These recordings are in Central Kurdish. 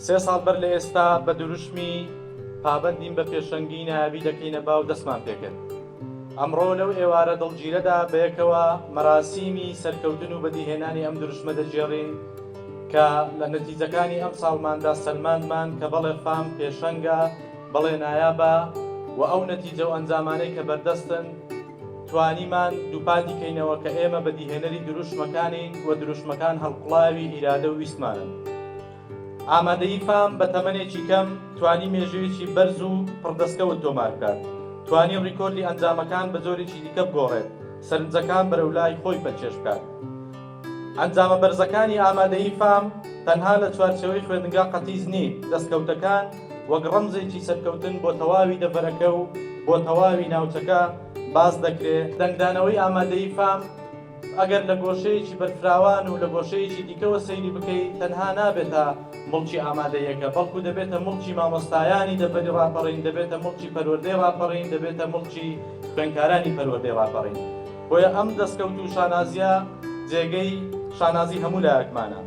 سێ ساڵ بەر لە ئێستا بە دروشمی پابەندین بە پێشەنگی نایابی دەکەینە باو دەستمان پێکرد. ئەمڕۆ لەو ئێوارە دڵگیرەدا بەیەکەوە مەراسیمی سەرکەوتن و بەدیهێنانی ئەم دروشمە دەگێڕین کە لە نەتیجەکانی ئەمساڵماندا سەلماندمان کە بەڵێ فام پێشەنگە، بەڵێ نایابە و ئەو نەتیجە و ئەنجامانەی کە بەردەستن توانیمان دووپاتی کەینەوە کە ئێمە بەدیهێنەری دروشمەکانین و دروشمەکان هەڵقوڵاوی ئیرادە و ویستمانن. ئامادەیی فام بە تەمەنێکی کەم توانی مێژوویەکی بەرز و پڕ دەستکەوت تۆمار بکات، توانی ڕیکۆردی ئەنجامەکان بە جۆرێکی دیکە بگۆڕێت، سەرنجەکان بەرەو لای خۆی پەلکێش بکات. ئەنجامە بەرزەکانی ئامادەیی فام تەنها لە چوارچێوەی خوێندنگا قەتیس نین، دەستکەوتەکان وەک ڕەمزێکی سەرکەوتن بۆ تەواوی دەڤەرەکە و بۆ تەواوی ناوچەکە باس دەکرێ، دەنگدانەوەی ئامادەیی فام، ئەگەر لە گۆشەیەکی بەرفراوان و لە گۆشەیەکی دیکەوە سەیری بکەی تەنها نابێتە موڵکی ئامادەییەکە بەڵکو دەبێتە موڵکی مامۆستایانی دەڤەری ڕاپەڕین، دەبێتە موڵکی پەروەردەی ڕاپەڕین، دەبێتە موڵکی خوێندکارانی پەروەردەی ڕاپەڕین. بۆیە ئەم دەستکەوت و شانازییە جێگەی شانازی هەموو لایەکمانە.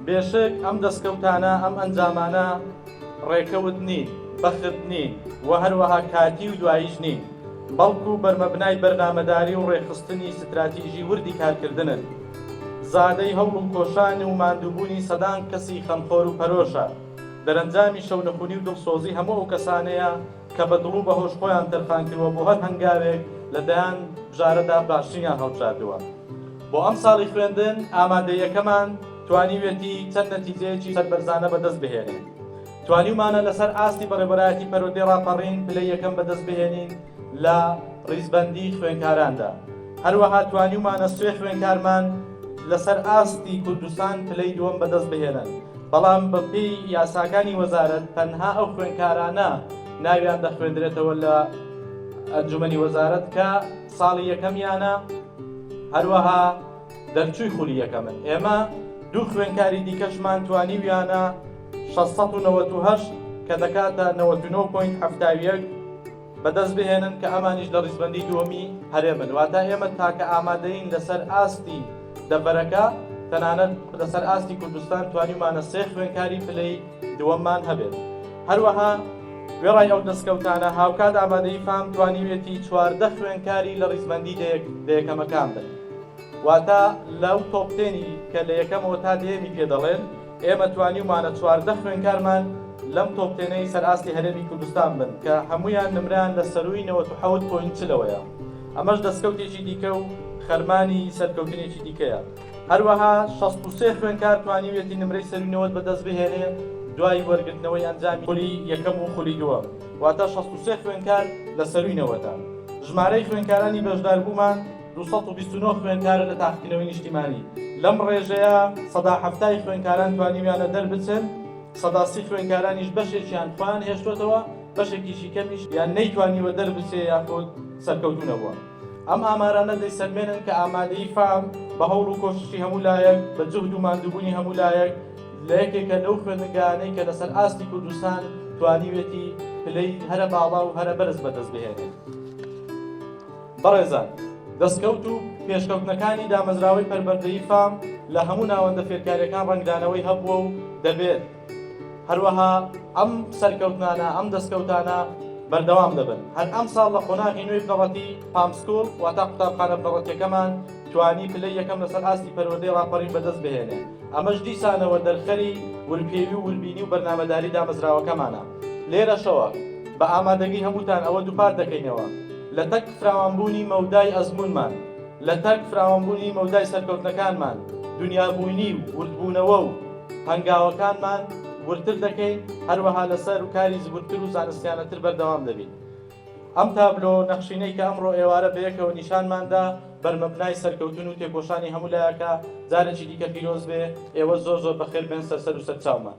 بێشک ئەم دەستکەوتانە، ئەم ئەنجامانە ڕێکەوت نین، بەخت نین و هەروەها کاتی و دواییش نین. بەڵکو بەرمەبنای بەرنامەداری و ڕێکخستنی ستراتیژی وردی کارکردنن، زادەی هەوڵ و کۆشان و ماندووبوونی سەدان کەسی خەمخۆر و پەرۆشە، دەرەنجامی شەونخونی و دڵسۆزی هەموو ئەو کەسانەیە کە بە دڵ و بە هۆش خۆیان تەرخان کردووە بۆ هەر هەنگاوێک لە دەیان بژارەدا باشترینیان هەڵبژاردووە بۆ ئەمساڵی خوێندن، ئامادەییەکەمان توانیوێتی چەند نەتیجەیەکی سەربەرزانە بەدەست بهێنێ. توانیومانە لەسەر ئاستی بەڕێوەبەرایەتی پەروەردەی ڕاپەڕین پلەی یەکەم بەدەست بهێنین لە ڕیزبەندیی خوێندکاراندا، هەروەها توانیومانە سێ خوێندکارمان لەسەر ئاستی کوردستان پلەی دووەم بەدەست بهێنن، بەڵام بەپێی یاساکانی وەزارەت تەنها ئەو خوێندکارانە ناویان دەخوێندرێتەوە لە ئەنجومەنی وەزارەت کە ساڵی یەکەمیانە هەروەها دەرچووی خولی یەکەمن، ئێمە دوو خوێندکاری دیکەشمان توانیویانە شەش سەد و نەوەد و هەشت کە دەکاتە نەوەد و نۆ پۆینت حەفتا و یەک بەدەست بهێنن کە ئەمانیش لە ڕیزبەندی دووەمی هەرێمن واتە ئێمە تاکە ئامادەین لەسەر ئاستی دەڤەرەکە تەنانەت لەسەر ئاستی کوردستان توانیمانە سێ خوێنکاری پلەی دووەممان هەبێت هەروەها وێڕای ئەو دەستکەوتانە هاوکات ئامادەی فام توانیوێتی چواردە خوێنکاری لە ڕیزبەندی دەیەکەمەکان بن واتە لەو تۆپتێنی کە لە یەکەمەوە تا دێمی پێ دەڵێن ئێمە توانیومانە چواردە خوێندکارمان لەم تۆپ تێنەی سەر ئاستی هەرێمی کوردستان بن کە هەموویان نمرەیان لە سەرووی نەوەد و حەوت پۆینت چلەوەیە ئەمەش دەستکەوتێکی دیکە و خەرمانی سەرکەوتنێکی دیکەیە هەروەها شەست و سێ خوێندکار توانیویەتی نمرەی سەرووی نەوەد بەدەست بهێنێ دوای وەرگرتنەوەی ئەنجامی خولی یەکەم و خولی دووەم واتە شەست و سێ خوێندکار لە سەرووی نەوەدە ژمارەی خوێندکارانی بەشداربوومان دوو سەد و بیست و نۆ خوێندکارە لە تاقیکردنەوەی نیشتیمانی، لەم ڕێژەیە سەدا حەفتای خوێندکاران توانیویانە دەربچن، سەدا سی خوێندکارانیش بەشێکیان خۆیان هێشتۆتەوە، بەشێکیشی کەمیش یان نەیتوانیوە دەربچێ یاخود سەرکەوتوو نەبووە. ئەم ئامارانە دەیسەلمێنن کە ئامادەیی فام بە هەوڵ و کۆششی هەموو لایەک، بە جوهد و ماندووبوونی هەموو لایەک لە یەکێکە لەو خوێندنگایانەی کە لەسەر ئاستی کوردستان توانیوێتی پلەی هەرە باڵا و هەرە بەرز بەدەست بهێنێت. بەڕێزان، دەستکەوت و پێشکەوتنەکانی دامەزراوەی پەروەردەی فام لە هەموو ناوەندە فێرکارییەکان ڕەنگدانەوەی هەبووە و دەبێت، هەروەها ئەم سەرکەوتنانە، ئەم دەستکەوتانە بەردەوام دەبن. هەر ئەمساڵ لە قۆناغی نوێی بنەڕەتی پام سکوڵ، واتە قوتابخانە بنەڕەتییەکەمان توانی پلەی یەکەم لەسەر ئاستی پەروەردەی ڕاپەڕین بەدەست بهێنێ، ئەمەش دیسانەوە دەرخەری ورپێوی و وربینی و بەرنامەداری دامەزراوەکەمانە. لێرەشەوە بە ئامادەگی هەمووتان ئەوە دووپات دەکەینەوە لە تەک فراوانبوونی مەودای ئەزموونمان، لە تەک فراوانبوونی مەودای سەرکەوتنەکانمان دونیابوینی و وردبوونەوە و هەنگاوەکانمان وردتر دەکەین، هەروەها لەسەر کاری زبرتر و زانستیانەتر بەردەوام دەبین. ئەم تابلۆ نەخشینەی کە ئەمڕۆ ئێوارە بەیەکەوە نیشانمان دا بەرمەبنای سەرکەوتن و تێکۆشانی هەموو لایەکە، جارێکی دیکە پیرۆز بێ، ئێوە زۆر زۆر بەخێر بێن سەر سەر و سەرچاومان.